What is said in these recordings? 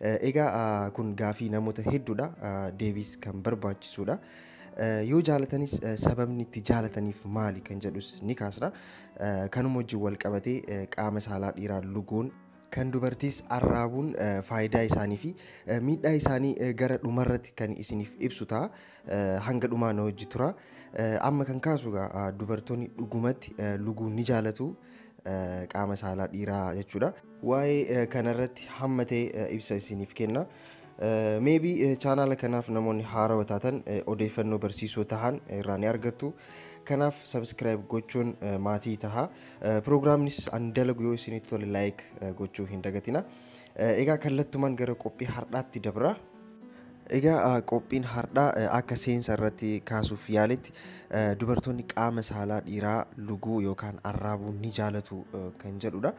Egaa kun gaafii namoota hedduudha. Deebiis kan barbaachisuudha. Yoo jaalatanis sababni itti jaalataniif maali kan jedhus ni kaasna. Kanuma wajjin wal qabatee qaama saalaa dhiiraa luguun kan dubartiis arraabuun faayidaa isaanii fi miidhaa isaanii gara dhumarratti kan isiniif ibsu ta'a. Hanga dhumaa na wajji tura. Amma kan kaasu egaa dubartoonni dhugumatti luguu ni jaalatu. qaama saalaa dhiiraa jechuudha. Waa'ee kanarratti hamma ta'e ibsa isiniif kenna. Meebii chaanaala kanaaf namoonni haarawa taatan odeeffannoo barsiisoo tahan irraa ni argattu. Kanaaf sabiskiraayib gochuun maatii taha. Piroogiraamnis an dalagu yoo isinitti tole laayik gochuu hin dagatina. Egaa kallattumaan gara qophii har'aatti dabra. Egaa qophiin hardhaa akka seensa irratti kaasuuf yaaletti dubartoonni qaama saalaa dhiiraa luguu yookaan arraabuu ni jaalatu kan jedhudha.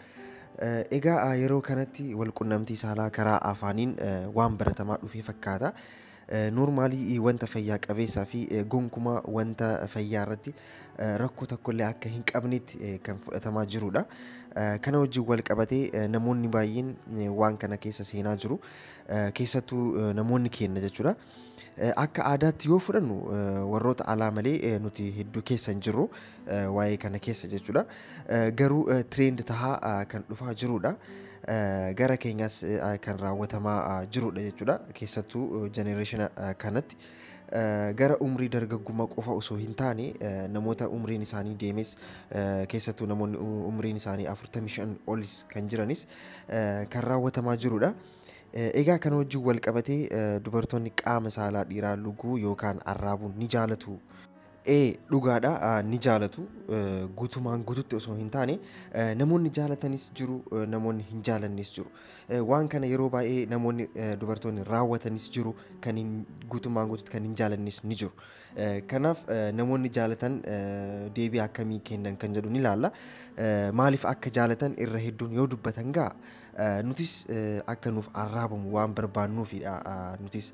Egaa yeroo kanatti walqunnamtii saalaa karaa afaaniin waan baratamaa dhufee fakkaata. Noormaalii wanta fayyaa qabeessaa fi gonkumaa wanta fayyaa irratti rakkoo tokkollee akka hin qabnetti kan fudhatamaa jirudha. Kana wajjin wal qabatee namoonni baay'een waan kana keessa seenaa jiru. keessattuu namoonni keenna jechuudha. Akka aadaatti yoo fudhannu warroota alaa malee nuti hedduu keessa hin jirru waa'ee kana keessa jechuudha. Garuu trend tahaa kan dhufaa jiruudha. Gara keenyas kan raawwatamaa jiruudha jechuudha. Keessattuu generation kanatti gara umrii dargaggummaa qofa osoo hin taane namoota umriin isaanii deemes keessattuu namoonni umriin isaanii 45 olis kan jiranis kan raawwatamaa jirudha. Egaa kana wajjin wal qabatee dubartoonni qaama saalaa dhiiraa luguu yookaan arraabuun ni jaalatu. Ee dhugaadha ni jaalatu guutumaan guututti osoo hin taane namoonni jaalatanis jiru namoonni hin jaalannes jiru. Waan kana yeroo baay'ee namoonni dubartoonni raawwatanis jiru kan guutumaan guututti kan hin jaalannes ni jiru. Kanaaf namoonni jaalatan deebii akkamii kennan kan jedhu ni laalla. Maaliif akka jaalatan irra hedduun yoo dubbatan gaa nutis akka nuuf arraabamu waan barbaannuufidha. Nutis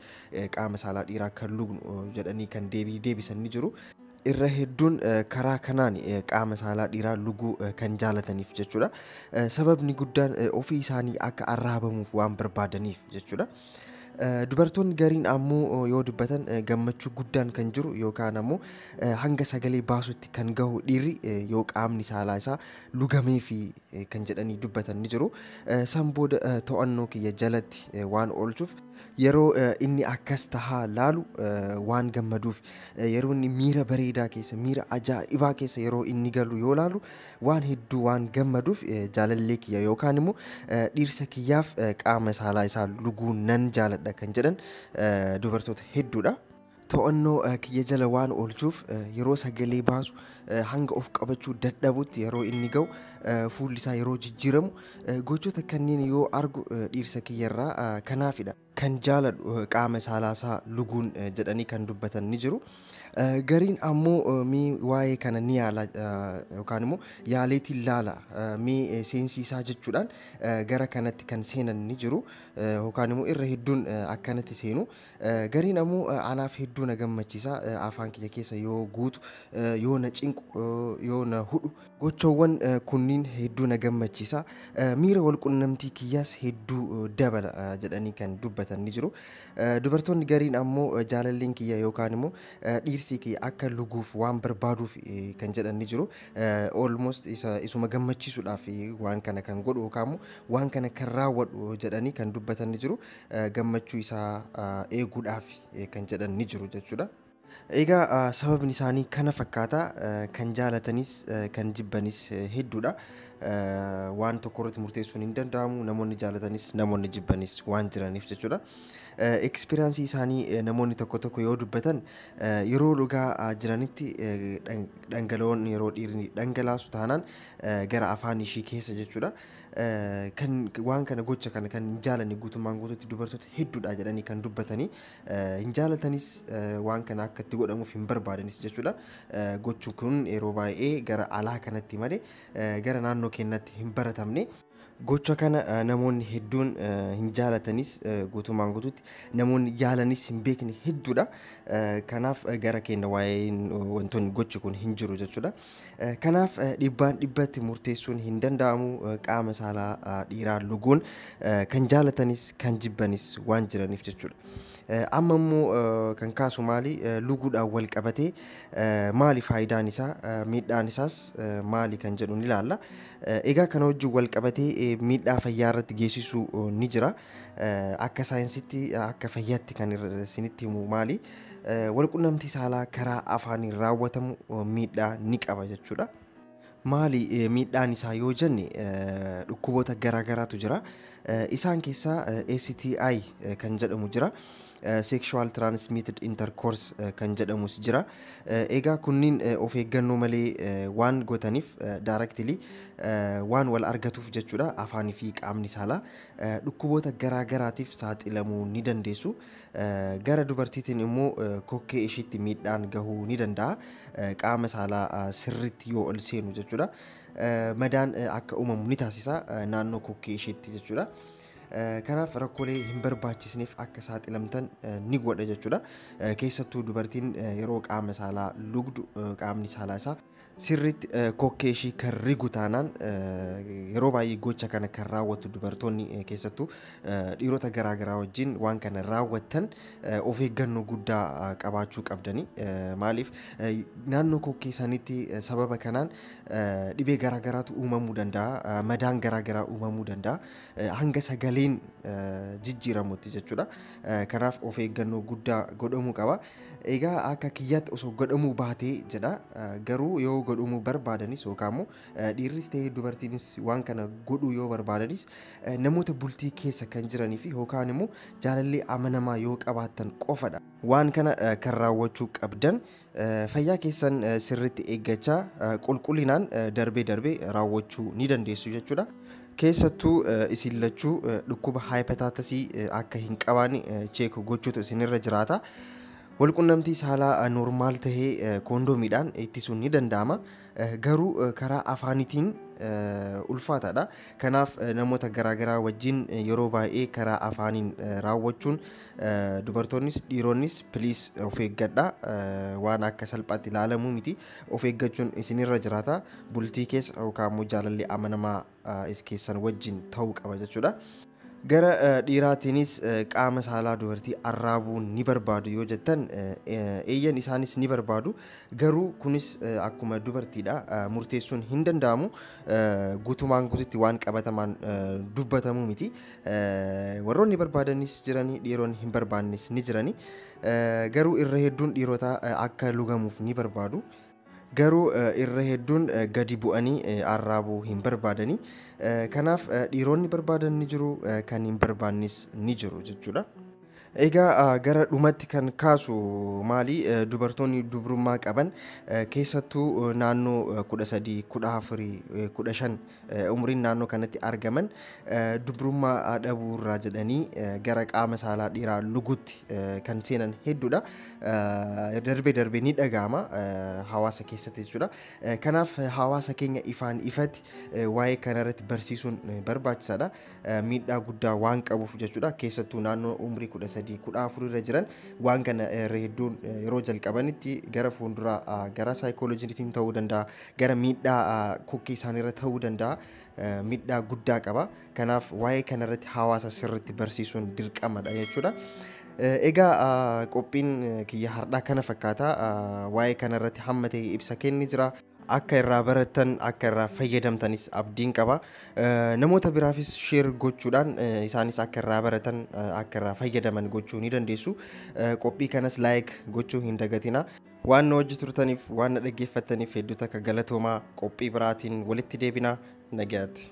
qaama saalaa dhiiraa kan lugnu jedhanii kan deebii deebisan ni jiru. Irra hedduun karaa kanaan qaama saalaa dhiiraa luguu kan jaalataniif jechuudha. Sababni guddaan ofii isaanii akka arraabamuuf waan barbaadaniif jechuudha. Dubartoonni gariin ammoo yoo dubbatan gammachuu guddaan kan jiru yookaan ammoo hanga sagalee baasutti kan gahu dhiirri yoo qaamni saalaa isaa lugamee fi kan jedhanii dubbatan ni jiru. San booda to'annoo kiyya jalatti waan oolchuuf yeroo inni akkas tahaa laalu waan gammaduuf yeroo inni miira bareedaa keessa miira ajaa'ibaa keessa yeroo inni galu yoo laalu waan hedduu waan gammaduuf jaalallee kiyya yookaan immoo dhiirsa kiyyaaf qaama saalaa isaa luguu nan jaaladha kan jedhan dubartoota hedduudha. To'annoo kiyya jala waan oolchuuf yeroo sagalee baasu hanga of qabachuu dadhabutti yeroo inni ga'u fuulli isaa yeroo jijjiiramu gochoota kanneen yoo argu dhiirsa kiyya irraa kanaafidha. kan jaaladhu qaama saalaasaa luguun jedhanii kan dubbatan ni jiru. Gariin ammoo mee waa'ee kana ni yaala yookaan immoo yaaleetiin laala mee seensiisaa jechuudhaan gara kanatti kan seenan ni jiru yookaan immoo irra hedduun akkanatti seenu. Gariin ammoo anaaf hedduu na gammachiisa afaan kiyya keessa yoo guutu yoo na cinqu yoo na hudhu Gochawwan kunniin hedduu na gammachiisa, miira wal qunnamtii kiyyaas hedduu dabala jedhanii kan dubbatan ni jiru. Dubartoonni gariin ammoo jaalalleen kiyya yookaan immoo dhiirsii kiyya akka luguuf waan barbaaduuf kan jedhan ni jiru. Almost isa isuma gammachiisuudhaaf waan kana kan godhu yookaan immoo waan kana kan raawwadhu jedhanii kan dubbatan ni jiru. Gammachuu isaa eeguudhaaf kan jedhan ni jiru jechuudha. Egaa sababni isaanii kana fakkaata. Kan jaalatanis kan jibbanis hedduudha. Waan tokko irratti murteessuun hin danda'amu. Namoonni jaalatanis namoonni jibbanis waan jiraniif jechuudha. Ekspiriyaansii isaanii namoonni tokko tokko yoo dubbatan yeroo dhugaa jiranitti dhangala'oon yeroo dhiirri dhangalaasu taanaan gara afaan ishii keessa jechuudha. Kan waan kana gocha kana kan hin jaalanne guutummaan guutuutti dubartoota hedduudha jedhanii kan dubbatanii hin jaalatanis waan kana akka itti godhamuuf hin barbaadanis jechuudha. Gochuun kun yeroo baay'ee gara alaa kanatti malee gara naannoo keenyatti hin baratamne. Gocha kana namoonni hedduun hin jaalatanis guutummaan guutuutti namoonni yaalanis hin beekne hedduudha. Kanaaf gara keenya waa'een wantoonni gochi kun hin jiru jechuudha. Kanaaf dhibbaan dhibbatti murteessuun hin danda'amu. Qaama saalaa dhiiraa luguun kan jaalatanis kan jibbanis waan jiraniif jechuudha. Amma immoo kan kaasu maali? Luguudhaan wal qabatee maali faayidaan isaa? Miidhaan isaas maali kan jedhu ni ilaalla. Egaa kana wajjin wal qabatee miidhaa fayyaa irratti geessisu ni jira. Akka saayinsitti akka fayyaatti kan isinitti himu maali? Walqunnamtii saalaa karaa afaaniin raawwatamu miidhaa ni qaba jechuudha. Maali miidhaan isaa yoo jenne dhukkuboota garaa garaatu jira. Isaan keessaa STI kan jedhamu jira. Sexual Transmitted Intercourse kan jedhamus jira. Egaa kunniin of eeggannoo malee waan gotaniif directly waan wal argatuuf jechuudha afaanii fi qaamni saalaa dhukkuboota garaa garaatiif saaxilamuu ni dandeessu. Gara dubartiitiin immoo kokkee ishiitti miidhaan gahuu ni danda'a. Qaama saalaa sirriitti yoo ol seenu jechuudha. Madaan akka uumamu ni taasisa naannoo kokkee ishiitti jechuudha. Kanaaf rakkoolee hin barbaachisneef akka saaxilamtan ni godha jechuudha. Keessattuu dubartiin yeroo qaama saalaa lugdu qaamni saalaa isaa Sirriitti kokkee ishii kan rigu taanaan yeroo baay'ee gocha kana kan raawwatu dubartoonni keessattuu dhiirota garaa garaa wajjin waan kana raawwattan of eeggannoo guddaa qabaachuu qabdani. Maaliif naannoo kokkee sanitti sababa kanaan dhibee garaa garaatu uumamuu danda'a, madaan garaa garaa uumamuu danda'a. Hanga sagaleen jijjiiramutti jechuudha. Kanaaf of eeggannoo guddaa godhamuu qaba. Egaa akka kiyyaatti osoo godhamuu baatee jedha. Garuu yoo godhumuu barbaadanis yookaan immoo dhiirris ta'ee dubartiinis waan kana godhuu yoo barbaadanis namoota bultii keessa kan jiranii fi yookaan immoo jaalallee amanamaa yoo qabaattan qofadha. Waan kana kan raawwachuu qabdan fayyaa keessan sirriitti eeggachaa qulqullinaan darbee darbee raawwachuu ni dandeessu jechuudha. Keessattuu isin lachuu dhukkuba haayipataatasii akka hin qabaanne cheek gochuutu isinirra jiraata. Walqunnamtii saalaa normaal tahe koondoomiidhaan ittisuun ni danda'ama. Garuu karaa afaanitiin ulfaataadha. Kanaaf namoota garaagaraa wajjin yeroo baay'ee karaa afaaniin raawwachuun dubartoonnis dhiironnis piliis of eeggadha. Waan akka salphaatti ilaalamuu miti. Of eeggachuun isin irra jiraata. Bultii keessa yookaan immoo jaalalli amanamaa keessan wajjin ta'uu qaba jechuudha. Gara dhiiraatiinis qaama saalaa dubartii arraabuu ni barbaadu yoo jettan eeyyan isaanis ni barbaadu. Garuu kunis akkuma dubartiidha murteessuun hin danda'amu. Guutumaan guututti waan qabatamaan dubbatamu miti. Warroonni barbaadanis jirani dhiironni hin barbaannes ni jirani. Garuu irra hedduun dhiirotaa akka lugamuuf ni barbaadu. Garuu irra hedduun gadi bu'anii arraabuu hin barbaadani. Kanaaf dhiironni barbaadan ni jiru, kan hin barbaannis ni jiru jechuudha. Egaa gara dhumatti kan kaasu maali dubartoonni dubrummaa qaban keessattuu naannoo 13, 14, 15 umriin naannoo kanatti argaman dubrummaa dhabuu irraa jedhanii gara qaama saalaa dhiiraa luguutti kan seenan hedduudha. Darbee darbee ni dhaga'ama hawaasa keessatti jechuudha. Kanaaf hawaasa keenya ifaan ifatti waa'ee kanarratti barsiisuun barbaachisaadha. Miidhaa guddaa waan qabuuf jechuudha. Keessattuu naannoo umrii 13 14 irra jiran waan kana irra hedduun yeroo jalqabanitti gara fuulduraa gara saayikooloojiitiin ta'uu danda'a, gara miidhaa kokkee isaaniirra ta'uu danda'a miidhaa guddaa qaba. Kanaaf waa'ee kanarratti hawaasa sirriitti barsiisuun dirqamadha jechuudha. Egaa qophiin kiyya hardhaa kana fakkaata waa'ee kanarratti hamma ta'e ibsa kenni jira. Akka irraa barattan akka irraa fayyadamtanis abdiin qaba. Namoota biraafis sheer gochuudhaan isaanis akka irraa baratan akka irraa fayyadaman gochuu ni dandeessu. Qophii kanas laayik gochuu hin dagatina. Waan nu wajji turtaniif, waan na dhaggeeffattaniif hedduu takka galatoomaa. Qophii biraatiin walitti deebina. Nagaatti.